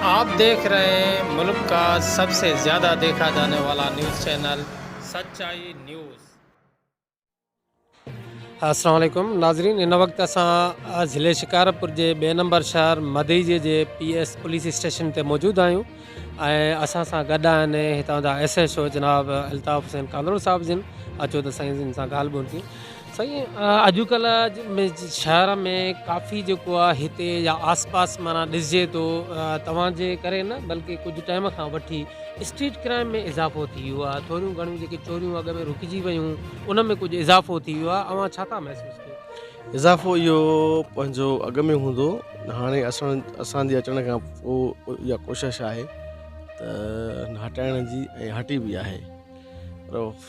آپ ديکھ رھي ھين ملڪ ڪا سب سي زياده ديکھا جاني والا نيوز چينل سچائي نيوز. السلام عليڪم ناظرين ان وقت اسان ضلعي شڪارپور جي ٻئي نمبر شهر مدئجي جي پي ايس پوليس اسٽيشن تي موجود آهيون ۽ اسان سان گڏ آهن هتان جا ايس ايس او جناب الطاف حسين ڪانڌڙو صاحب جن اچو ته سائين جن سان ڳالهه ٻولهه ٿي سائين اڄ ڪلهه شهر ۾ ڪافي جيڪو آ هتي يا آس پاس معنيٰ ڏسجي ٿو توهان جي ڪري نه بلڪه ڪجهه ٽائيم کان وٺي اسٽريٽ ڪرائيم ۾ اضافو ٿي ويو آ ٿوريون گهڻيون جيڪي چوريون اڳ ۾ رڪجي ويون ان ۾ ڪجهه اضافو ٿي ويو آ اوهان ڇا ٿا محسوس ڪيو. اضافو اهو پنهنجو اڳ ۾ هوندو هاڻي اسان اسان جي اچڻ کان پو يا ڪوشش آهي ته هٽائڻ جي ۽ هٽي به آهي پر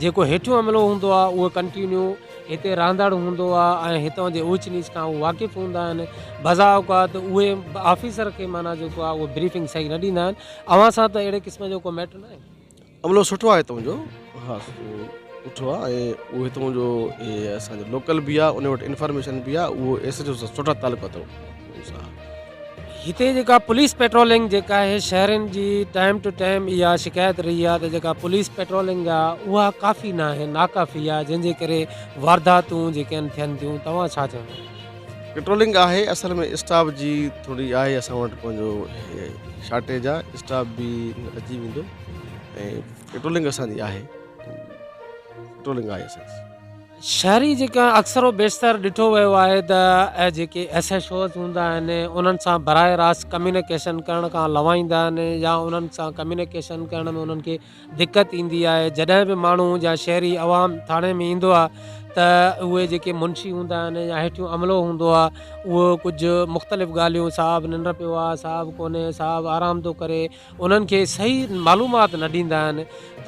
جيڪو هيٺيون عملو هوندو آهي اهو ڪنٽينيو هتي رهندڙ هوندو آهي ۽ هتان جي اوچ نيچ کان هو واقف هوندا آهن بزا اوقات اهي آفيسر کي معنيٰ جيڪو آهي اهو بريفنگ صحيح نه ڏيندا آهن اوهان سان ته اهڙي قسم جو ڪو ميٽر ناهي. عملو سٺو آهي هتان جو ها سٺو آهي ۽ اهو هتان جو اسان جو لوڪل به آهي ان وٽ انفارميشن به آهي اهو ايس ايچ او سان سٺا تعلقات اٿو هتي جيڪا پوليس پيٽرولنگ جيڪا آهي شهرين جي ٽائيم ٽو ٽائيم اها شڪايت رهي آهي ته جيڪا پوليس پيٽرولنگ آهي اها ڪافي نه آهي ناڪافي آهي جنهن جي ڪري وارداتون جيڪي آهن ٿين ٿيون توهان ڇا چوندو پيٽرولنگ آهي اصل ۾ اسٽاف جي ٿوري آهي اسان وٽ پنهنجو شارٽيج آهي اسٽاف به اچي ويندو ۽ پيٽرولنگ اسانجي آهي پيٽرولنگ آهي اسانجي شهري جيڪا اڪثر و بيشتر ڏٺو ويو آهي ته جيڪي ايس ايڇ اوز هوندا آهن انهن سان براهه راست ڪميونيڪيشن ڪرڻ کان لوائيندا آهن يا انهن سان ڪميونيڪيشن ڪرڻ ۾ انهن کي دقت ايندي آهي جڏهن به ماڻهو جا شهري عوام ٿاڻي ۾ ايندو آهي ته اهي جيڪي منشي هوندا آهن يا هيٺيون عملو هوندو آهي اهو ڪجهه مختلف ڳالهيون صاحب ننڊ پيو آهي صاحب ڪونهي صاحب آرام ٿو ڪري انهن کي صحيح معلومات نه ڏيندا آهن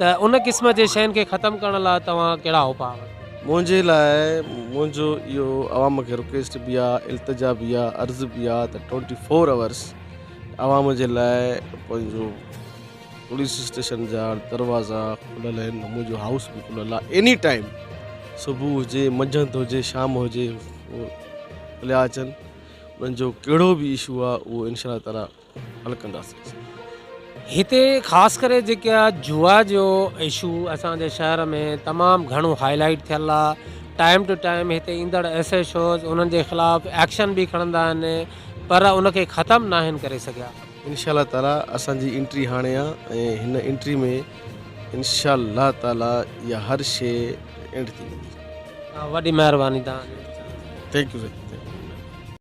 ته ان قسم جي شين کي ختم ڪرڻ لاء توهان ڪهڙا اپاء ورتو. منهنجي لاء منهنجو اهو عوام کي رڪويسٽ به آ التجا به آ عرض به آ ته ٽوئنٽي فور اورس عوام جي لاء پنهنجو پوليس اسٽيشن جا دروازا کليل آهن منهنجو هائوس به کليل آ ايني ٽائيم صبح هجي منجهند هجي شام هجي هو هليا اچن انهن جو ڪهڙو به اشو آ اهو انشاء الله تعالي حل ڪنداسين هتي خاص ڪري جيڪا جوا جو اشو اسان جي شهر ۾ تمام گهڻو هاء لائيٽ ٿيل آ ٽائيم ٽو ٽائيم هتي ايندڙ ايس اي شوز انهن جي خلاف ايڪشن به کڻندا آهن پر ان کي ختم ناهن ڪري سگهيا انشاء الله تعالي اسان جي انٽري هاڻي آ ۽ هن انٽري ۾ انشاء الله تعالي يا هر شي اينڊ ٿي ويندي وڏي مهرباني تهان جي ٿينڪ يو سر